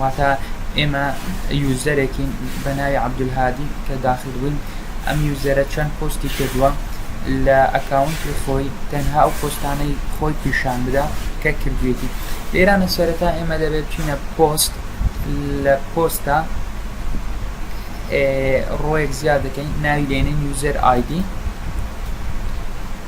واتە ئێمە یوزەرێکین بەناوی عبدالهادی کە داخل بووین ئەم یوزەرە چەند پۆستی کردووە لە ئەکاونتی خۆی تەنها ئەو پۆستانەی خۆی پیشان بدا کە کردوێتی لێرانە سەرەتا ئێمە دەبێت چینە پۆست لە پۆستە ڕۆیەک زیاد دەکەین ناوی لێنین یوزەر ئایدی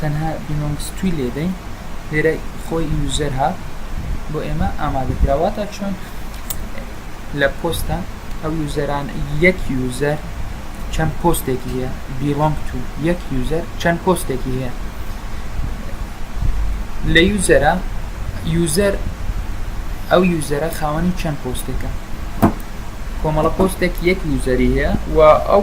تەنها بیمەمەستوی لێدەین لێرە خۆی یوزەر هات بۆ ئێمە ئامادە کرا واتە چۆن لە پۆستە ئەو یوزەران یەک یوزەر چەند پۆستێکی هەیە بیڵۆنگ تو یەک یوزەر چەند پۆستێکی هەیە لە یوزەرە یوزەر ئەو یوزەرە خاوەنی چەند پۆستێکە کۆمەڵە پۆستێک یەک یوزەری هەیە و ئەو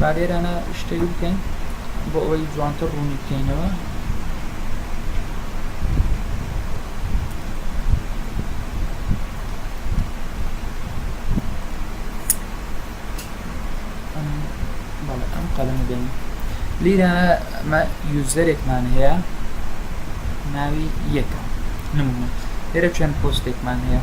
با لێرانە شتێک بکەین بۆ ئەوەی جوانتر ڕوونی بکەینەوە ئەم قەلەمە دێن لیرە ئەمە یوزەرێکمان هەیە ناوی یەکە نمونە لێرە چەند پۆستێکمان هەیە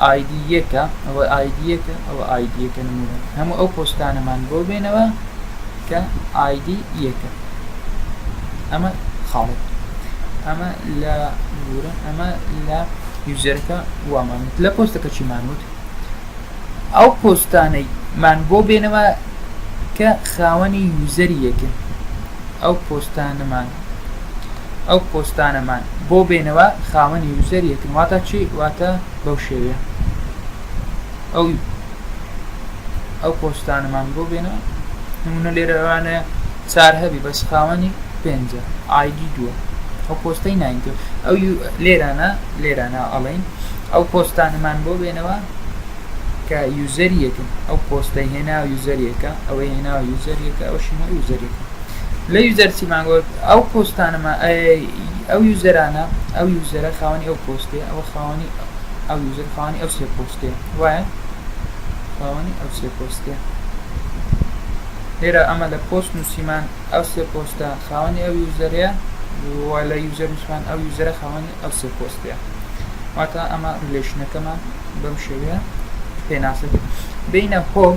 ئایدی یەکە ئەوە ئایدی یەکە ئەوە ئایدی یەکە نمونە هەموو ئەو پۆستانەمان بۆ بێنەوە کە ئایدی یەکە ئەمە خاڵێک ئەمە لە گورە ئەمە لە یوزەرەکە وامان لە پۆستەکە چیمان وت ئەو پۆستانەی من بۆ بێنەوە کە خاوەنی یوزەری یەکە ئەو پۆستانەمان ئەو پۆستانەمان بۆ بێنەوە خاوەنی یوزەر یەکن واتا چی واتە بەو شێوەیە ئەو ئەو پۆستانەمان بۆ بێنەوە نمونە لێرەوانە چار هەبی بەس خاوەنی پێنجە ئایدی دووە ئەو پۆستەی ناینتۆ ئەو لێرانە لێرانە ئەڵین ئەو پۆستانەمان بۆ بێنەوە کە یوزەریەکن ئەو پۆستەی هێنا یوزەریەکە ئەوەی هێنا یوزەریەکە ئەو شنە یوزەریەکە لە یوزەر چیمان گۆت ئەو پۆستانەمان ئەو یوزەرانە ئەو یوزەرە خاوەنی ئەو پۆستێ ئەو خاوەنی ئەو یوزەر خاوەنی ئەو سێ پۆستێ وایە خاوەنی ئەو سێ پۆستێ لێرە ئەمە لە پۆست نووسیمان ئەو سێ پۆستە خاوەنی ئەو یوزەرەیە وە لە یوزەر نووسمان ئەو یوزەرە خاوەنی ئەو سێ پۆستەیە واتە ئەمە ریلێشنەکەمان بەم شێوەیە پێناسەکە بینە هۆم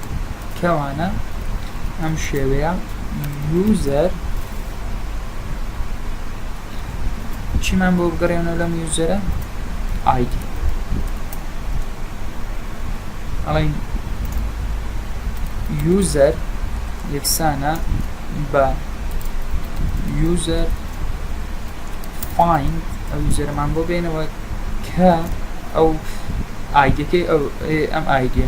کەوانە ئەم شێوەیە یوزەر چیمان بۆ بگەڕێنەوە لەم یوزەرە ئایدی ئەڵین یوزەر یەکسانە بە یوزەر فاین ئەو یوزەرمان بۆ بێنەوە کە ئەو ئایدەکەی ئەم ئایدە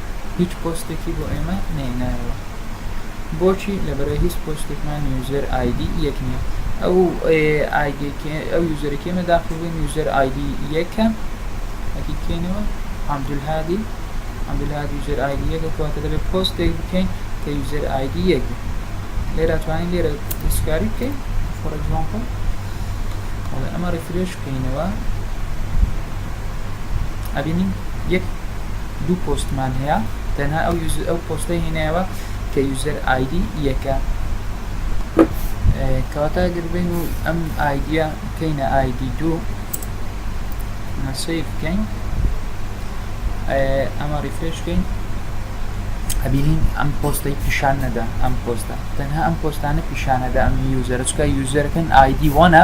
هیچ پۆستێکی بۆ ئێمە نەهێنایەوە بۆچی لەبەرە هیچ پۆستێکمان یوزەر ئایدی یەک نییە ئەو ئەو یوزەرێکی ئێمە داخڵبووین یوزەر ئایدی یەکە ئەکی کەینەوە عبدولهادی عبدولهادی یوزەر ئایدی یەکە کەواتە دەبێت پۆستێک بکەین کە یوزەر ئایدی یەک بێت لێرە توانین لێرە دەستکاری بکەین فۆر ئەگزامپڵ ئەمە ڕیفرێش بکەینەوە ئەبینین یەک دوو پۆستمان هەیە تەنها ئەو ئەو پۆستە هێنایەوە کە یوزەر ئایدی یەکە کەواتە گربین و ئەم ئایدە بکەینە ئایدی دوو مەسی بکەین ئەمە ڕیفرش بکەین ئەبینین ئەم پۆستەی پیشان نەدا ئەم پۆستە تەنها ئەم پۆستانە پیشانەدا ئەم یوزەرچکە یوزەرەکەن ئایدی وانە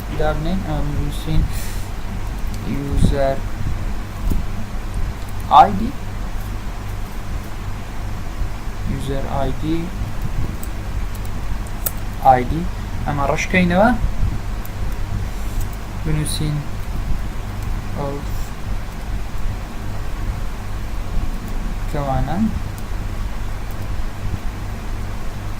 دابنێن نوسین user id user id id ئەمە ڕشکەینەوە بنووسین کەوانە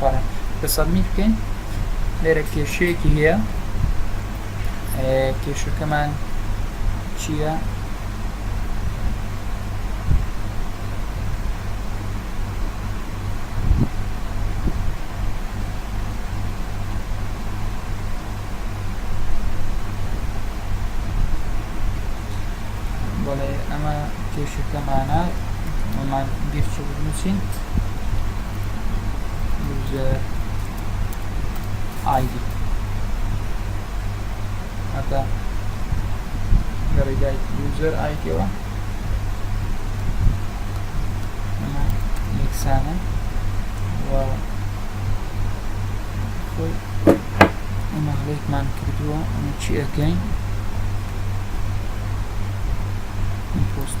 بەڵێ کە سەبمیت بکەین لێرە کێشەیەکی هەیە کێشەکەمان چییە؟ بەڵێ ئەمە کێشەکەمانە ئەمان بیرچە بنووسین user id هەتا لە ڕێگای user id ەوە ئەمە یەکسانە و خۆی ئەمە هەڵێکمان کردووە ئەمە چی ئەەکەین پۆست